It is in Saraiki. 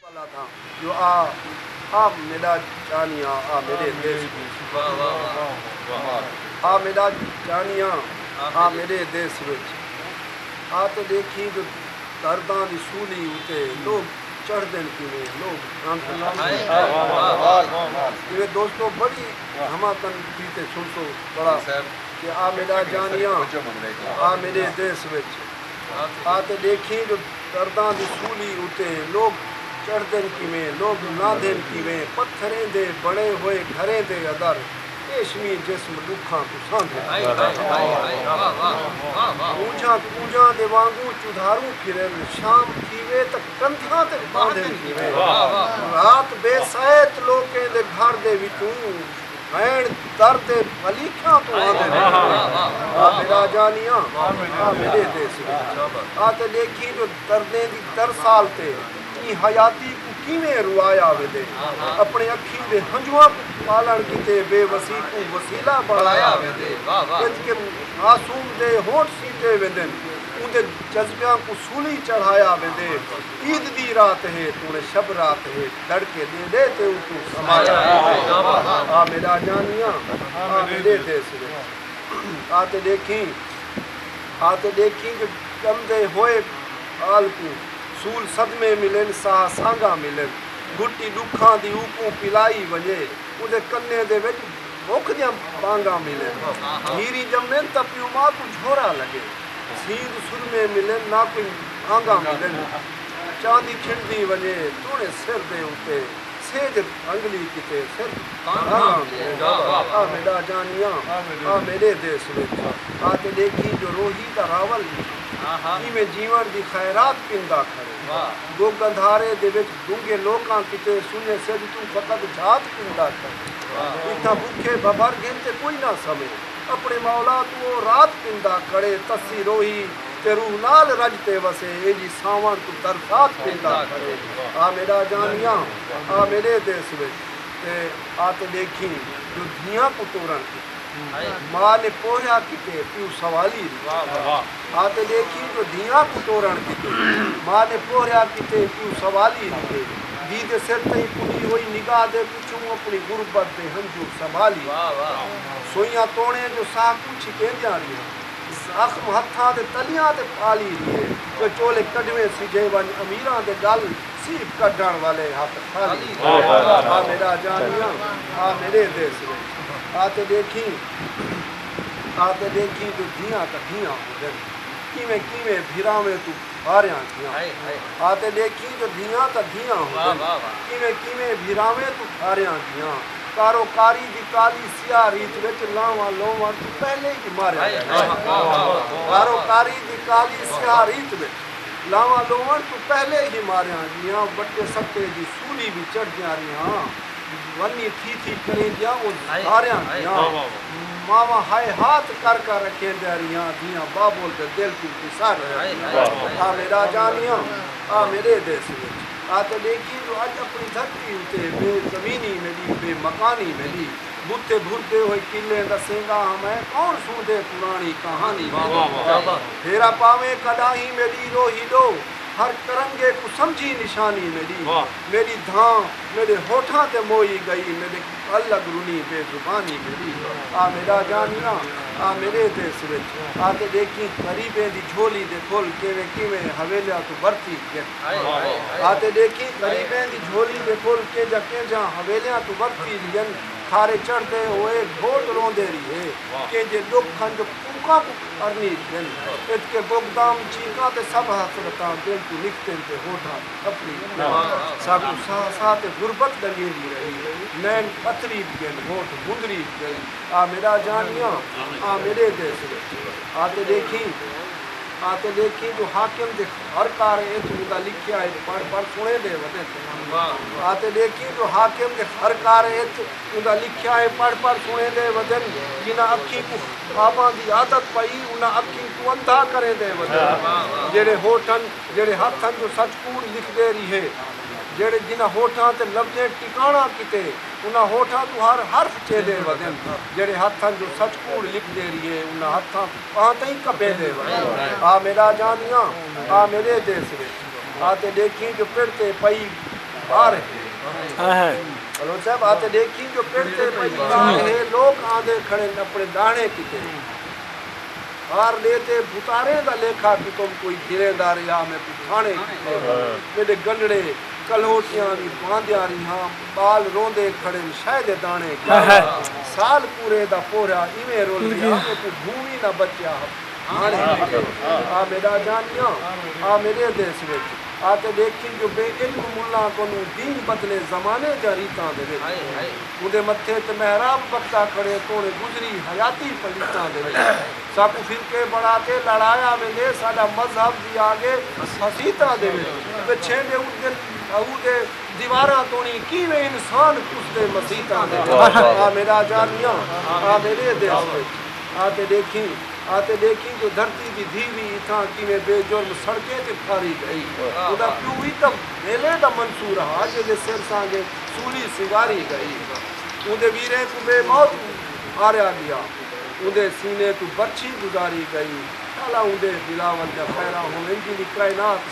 والا تھا جو آ آ میڈا جانیاں آ میڈے دیس کو آ میڈا جانیاں آ میڈے دیس وچ آ تے ڈیکھیں جو درداں دی سولی اتے لوگ چڑھدن کیویں لوگ جیویں دوستو بڑی دھماکن کیتے سنسو بڑا کہ آ میڈا جانیاں آ میڈے دیس وچ۔ آتے ڈیکھیں جو درداں دی سولی اتے لوک چڑھدن کیویں، لوک لہندن کیویں، پتھریں دے بنڑے ہوئے گھریں دے ادر ریشمی جسم ڈکھاں کوں سہندن اونجھاں کونجاں دے وانگوں چدھاروں پھرن، شام تھیوے تاں کندھاں تے پاندن کیویں، رات بے سہت لوکیں دے گھر دے وچوں۔ بھیݨ در تے بلیکھیاں توں آندے نے آ میݙا جانیاں آ میݙے دے سوہݨا آ تے ݙیکھیں جو دردیں دی ترسال تے ایں حیاتی کوں کیویں روایا ویندے اپݨے اکھیں دے ہنجواں کوں پالݨ کیتے بے وسی کوں وسیلہ بݨایا ویندے انج کہ معصوم دے ہونٹ سیتے ویندن اوندے جذبیاں کوں سولی چڑھایا ویندے عید دی رات ہے توݨے شب رات ہے دھڑ کے دے دے تے اوکوں سمایا آ میڈا جانیاں آ میڈے دے سرے آ تے ڈیکھیں آ تے ڈیکھیں جو ڈمدے ہوئے آل کوں سول صدمے ملن ساہ سانگاں ملن گھٹی ڈکھاں دی اوکوں پلائی ونجے اوندے کنے دے وچ بکھ دیاں بانگاں ملن جھیری جمن تاں پیو ماں کوں جھورا لگے سینگ سرمے ملن نہ کوئی بھانگاں ملن۔ چاندی کھڑدی ونڄے توݨے سر دے اتے سینڄ رنگلی کیتے پھر رنگ آندے آ میݙا جانیاں آ میݙے دیس وچ آ تے ݙیکھیں جو روہی دا راول ݙیکھیں کیویں جیوݨ دی خیرات پیندا کھڑے گگ اندھارے دے وچ گنگے لوکاں کیتے سنڄے سجھ توں فقط جھات پیندا کھڑے اتھاں بکھے بھبھر گھن تے کوئی نہ سمے اپݨے مولا توں او رات پیندا کھڑے تسی روہی تے روح نال رڄ تے وسے ایجھی ساوݨ توں درخواست گھندا کھڑے آ میݙا جانیاں آ میݙے دیس وچ تے آ تے ݙیکھیں جو دھیاں کوں ٹورݨ کیتے ماء نے پوہیا کیتے پیو سوالی ݙتے آ تے ݙیکھیں جو دھیاں کوں ٹورݨ کیتے ماء نے پوہیا کیتے پیو سوالی ݙتے دھی دے سر تئیں پݙی ہوئی نگاہ دے پچھوں اپݨی غربت دے ہنجو سنبھالی سوئیاں توݨیں جو ساہ کوں چھکیندیاں ریہاں۔ زخم ہتھاں دے تلیاں تے پالی دیے جو چولے کڈھویں سجھے ونج امیراں دے گل سیپ کڈھن والے ہتھ خالی دیے آ میڈا جانیاں آ میڈے دیس وچ آ تے ڈیکھیں آ تے ڈیکھیں جو دھیاں کڈھیاں ہوندن کیویں کیویں بھراویں توں بھاریاں گیاں آ تے ڈیکھیں جو دھیاں کڈھیاں ہوندن کیویں کیویں بھراویں توں بھاریاں گیاں کارو کاری دی کالی سیاہ ریت وچ لانواں لووݨ توں پہلے ای ماریا ویندا ہے۔ باروکاری دی کالی سیاہ ریت وچ لانواں لووݨ توں پہلے ای ماریاں ہندیاں، وٹے ستے دی سولی وی چڑھدیاں ریہاں، ونی تھی تھی کریندیاں اوں دھاریاں دیاں، ماواں ہائے ہاتھ کر کر اکھیندیاں ریہاں، دھیاں بابول دے دل توں وساریاں ریہاں۔ آ میݙا جانیاں، آ میݙے دیس وچ۔ آ تے ݙیکھیے جو اڄ اپݨی دھرتی اتے ٻئے زمینی میݙی ٻئے مکانی میݙی بتھے بھردے ہوئے قلعیں ݙسیندا ہاں میں کون سݨدے پراݨی کہانی میݙی پھیرا پاویں کݙاہیں میݙی روہی ݙو ہر کرنگے کوں سمجھی نشانی میݙی میݙی دھاں میݙے ہوٹھاں تے موئی ڳئی میݙے ڳل لڳ رنی بے زبانی میݙی آ میݙا جانیاں آ میݙے دیس وچ آ تے ݙیکھیں غریبیں دی جھولی دے پھل کیویں کیویں حویلیاں توں برتی آتے ڈیکھیں غریبیں دی جھولی دے پھل کینجھاں کینجھاں حویلیاں توں ورتی ریہن کھارے چڑھدے ہوئے گھوٹ روندے ریہے کینجھے ڈکھ کھنج کوکاں کوں ارنی ریہن اتکے بغدام چیکاں تے سب حسرتاں دل توں نکتن تے ہوٹھاں دی کپڑی ریہن ساکوں ساہ ساہ تے غربت ڈنگیندی رہی نین پتھری ریہن ہوٹھ مندری ریہن آ میڈا جانیاں آ میڈے دیس وچ آتے ڈیکھیں آتے ڈیکھیں جو حاکم دے ہر کار اچ ادا لکھیا اچ پڑھ پڑھ سنے دے ودے تھے آتے ڈیکھیں جو حاکم دے ہر کار اچ ادا لکھیا اے پڑھ پڑھ سنے دے ودن جنہاں اکھیں کوں خواباں دی عادت پئی انہاں اکھیں کوں اندھا کریں دے ودن جیڑھے ہوٹھن جیڑھے ہتھن جو سچ کوڑ لکھ دے ریہے جیڑھے جنہاں ہوٹھاں تے لفظیں ٹکانڑاں کیتے انہاں ہوٹھاں توں ہر حرف چیدے ودن جیڑھے ہتھن جو سچ کوڑ لکھ دے ریہے انہاں ہتھاں آں تئیں کپے دے ونڄ۔ آ میݙا جاندیاں آ میݙے دیس وچ آ تے ݙیکھیں جو پڑ تے پئی ٻار ہے۔ بلوچ صاحب آ تے ݙیکھیں جو پڑ تے پئی ٻار ہے لوک آندے کھڑن اپݨے ݙاہݨے کیتے ٻار ݙے تے بھتاریں دا لیکھا کتم کوئی گھریں دا ریہا میکوں تھاݨے کیتے میݙے گنݙڑے کلہوٹیاں وی پاندیاں ریہاں۔ ٻال روندے کھڑن شئے دے داݨے کیاوے سال پورے دا پورھیا ایویں رل گیا میکوں بھوں وی نہ بچیا ہاݨے میڈے آ میڈا جانیاں آ میڈے دیس وچ آ تے ݙیکھیں جو بے علم ملاں کنوں دین بدلے زمانے دیاں ریتاں دے وچ اوندے متھے تے محراب بکھدا کھڑے توڑیں گزری حیاتی پلیتاں دے وچ ساکوں فرقے بݨا تے لڑایا ویندے ساݙا مذہب وی آڳے حسیتاں دے وچ تے چھیندے اٹھدن اودے دیواراں توڑیں کیویں انسان کسدے مسیتاں دے وچ آ میݙا جانیاں آ میݙے دیس وچ آ تے ݙیکھیں آ تے ݙیکھیں جو دھرتی دی دھی وی اتھاں کیویں بے جرم سڑکیں تے پھاری ڳئی اودا پیو وی تاں ویلے دا منصور ہا جیندے سر سانگے سولی سنگاری ڳئی اوندے ویریں کوں بے موت ماریا ڳیا اوندے سینے توں برچھی گزاری ڳئی شالا اوندے بلاول جا خیرہ ہوویں جیندی کائنات